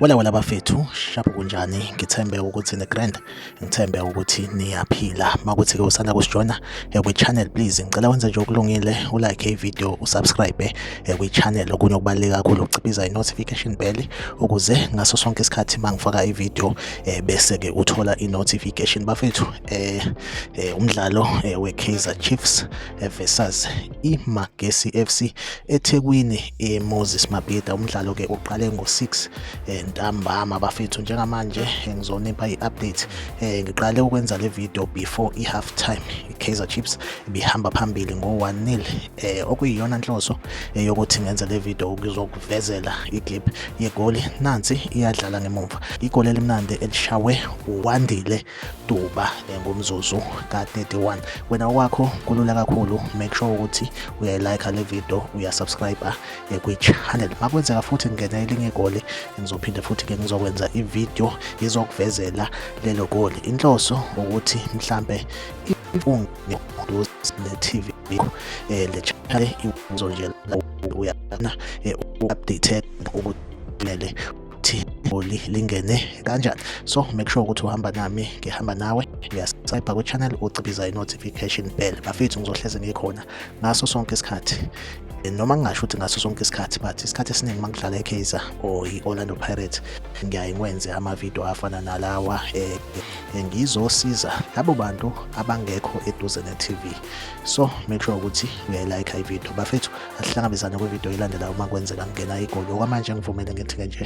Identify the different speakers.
Speaker 1: Wala wala bafethu shaphu kunjani ngithembe ukuthi ne grand ngithembe ukuthi niyaphila makuthi ke usanda kusijona ekwi channel please ngicela wenze nje okulungile u like i video u subscribe ekwi channel okunye okubaleka kakhulu ukuciphiza i notification bell ukuze ngaso sonke isikhathi mangifaka i video eh, bese ke uthola i notification bafethu eh, eh umdlalo eh, we Kaizer Chiefs eh, versus i Magesi FC eThekwini e Moses Mabhida umdlalo ke uqale ngo 6 eh, ntambama bafethu njengamanje eh, ngizonipha i update eh, ngiqale ukwenza le video before i half time i Kaizer Chiefs ibihamba phambili ngo 1-0 eh okuyiyona nhloso eyokuthi ngenze le video ukuzokuvezela iclip yegoli nansi iyadlala ngemumva igoli elimnandi elishawe uwandile duba eh, ngomzuzu ka-31 wena wakho kulula kakhulu make sure ukuthi uyayilike le video uyasubscribe eh, kwi-channel makwenzeka futhi ngingena elinye igoli ngizophinde futhi ke ngizokwenza ivideo izokuvezela lelo goli inhloso ukuthi mhlampe imfungo ngiduze ne TV yakho eh le channel iwuzo nje la uyana eh, update ukuthi kumele ukuthi igoli lingene kanjani so make sure ukuthi uhamba nami ngihamba nawe uyasayibha kwi-channel ucibiza i-notification bell bafethu ngizohleze ngikhona ngaso sonke isikhathi eh, noma ngingasho ukuthi ngaso sonke isikhathi but isikhathi esiningi uma ngidlala ekaizer or i-orlando pirates ngiyaye ngwenze amavidiyo afana nalawa um ngizosiza labo bantu abangekho eduze ne-tv so make sure ukuthi uyayilayikha ividiyo bafethu asihlangabezane kwividiyo elandelayo uma kwenzeka ngena igoli okwamanje ngivumele ngithi-ke nje